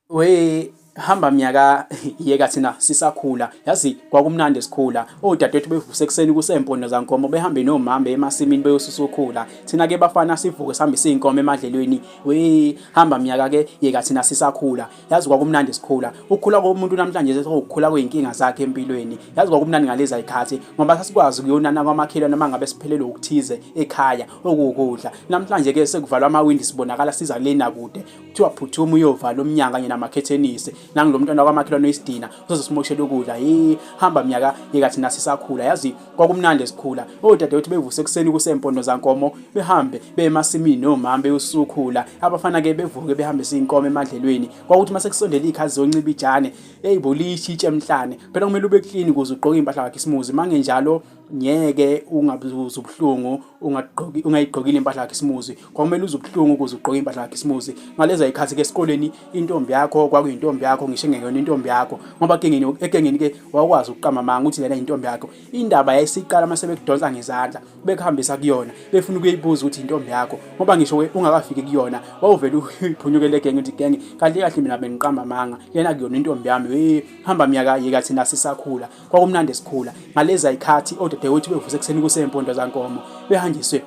Wee hamba mnyaka yeka thina sisakhula yazi kwakumnandi sikhula odadewethu bevuse ekuseni kusempondo zankomo behambe nomama emasimini beyosusa ukhula thina ke bafana sivuke sihambe siyinkomo emadlelweni we hamba mnyaka ke yeka thina sisakhula yazi kwakumnandi sikhula ukukhula komuntu namhlanje sekukhula kuyinkinga zakhe empilweni yazi kwakumnandi ngalezi ayikhathi ngoba sasikwazi kuyonana kwamakhelwane uma ngabe siphelelwe ukuthize ekhaya okukudla namhlanje ke sekuvalwa amawindi sibonakala siza lena kude kuthiwa phuthuma uyovala umnyango kanye namakhethenisi nangulo mntwana kwamakhelwane oyisidina uzozosimoshela ukudla yi hamba mnyaka yeka thina sisakhula yazi kwakumnandi esikhula odadewethu bevuse ekuseni kusempondo zankomo behambe bemasimini nomama beyosukhula abafana ke bevuke behambe siyinkomo emadlelweni kwakuthi mase kusondela ikhazi zonciba ijane eyibo lishitshe emhlane phela kumele ube clean ukuze ugqoke impahla yakhe isimuzi mangenjalo ngeke ungabuza ubuhlungu ungagqoki ungayigqokile impahla yakhe isimuzi kwakumele uze ubuhlungu ukuze ugqoke impahla yakhe isimuzi ngaleza ikhathi ke esikoleni intombi yakho kwakuyintombi yakho ngisho engeyona intombi yakho ngoba kengeni ekengeni ke wakwazi ukuqamba amanga ukuthi lena intombi yakho indaba yayisiqala mase bekudonsa ngezandla bekuhambisa kuyona befuna ukuyibuza ukuthi intombi yakho ngoba ngisho ungakafiki kuyona wawuvela uphunyukele genge uthi genge kahle kahle mina bengiqamba amanga lena kuyona intombi yami hey hamba myaka yeka thina sisakhula Kwakumnandi esikhula ngalezi ayikhathi odadewethu bevusa ekuseni kusempondo zankomo behanjiswe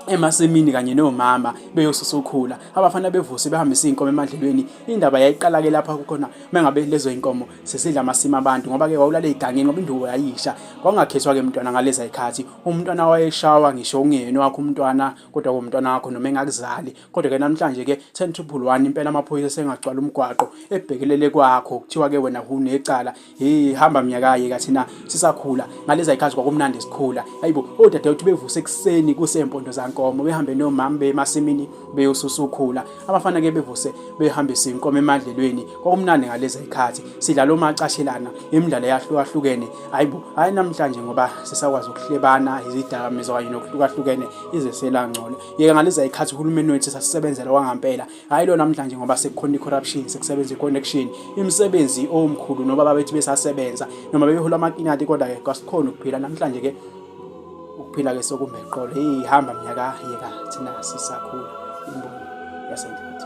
emasimini kanye nomama beyosusa ukhula abafana bevuse behambisa inkomo emadlelweni indaba yayiqala ke lapha kukhona mengabe lezo inkomo sesidla amasima abantu ngoba ke wawulale igangeni ngoba indubo yayisha kwangakhethwa ke mntwana ngalezi ayikhathi umntwana wayeshawa ngisho ungene wakho umntwana kodwa komntwana wakho noma engakuzali kodwa ke namhlanje ke 10 to 1 impela amaphoyisa sengagcwala umgwaqo ebhekelele kwakho kuthiwa ke wena hunecala Hey hamba mnyakaye kathi na sisakhula ngaleza ikhathi kwakumnandi sikhula ayibo odadewethu bevuse ekuseni kusempondo zankomo behambe nomama bemasimini beyosusukhula abafana ke bevuse behambe sinkomo emadlelweni kwakumnandi ngaleza ikhathi sidlala omacashelana imidlalo yahlukahlukene ayibo hayi namhlanje ngoba sisakwazi ukuhlebana izidakamizwa kanye nokuhlukahlukene izesela ngcono yeke ngaleza ikhathi uhulumeni wethu sasisebenzela kwangampela hayi lo namhlanje ngoba sekukhona i-corruption sekusebenza i-connection imisebenzi omkhulu noba babethi besasebenza noma bebehola amakinati kodwa-ke kwasikhona ukuphila namhlanje-ke ukuphila-ke sokumbeqolo eyi hamba mnyaka yeka thina sisakhula imboni yasenhlathi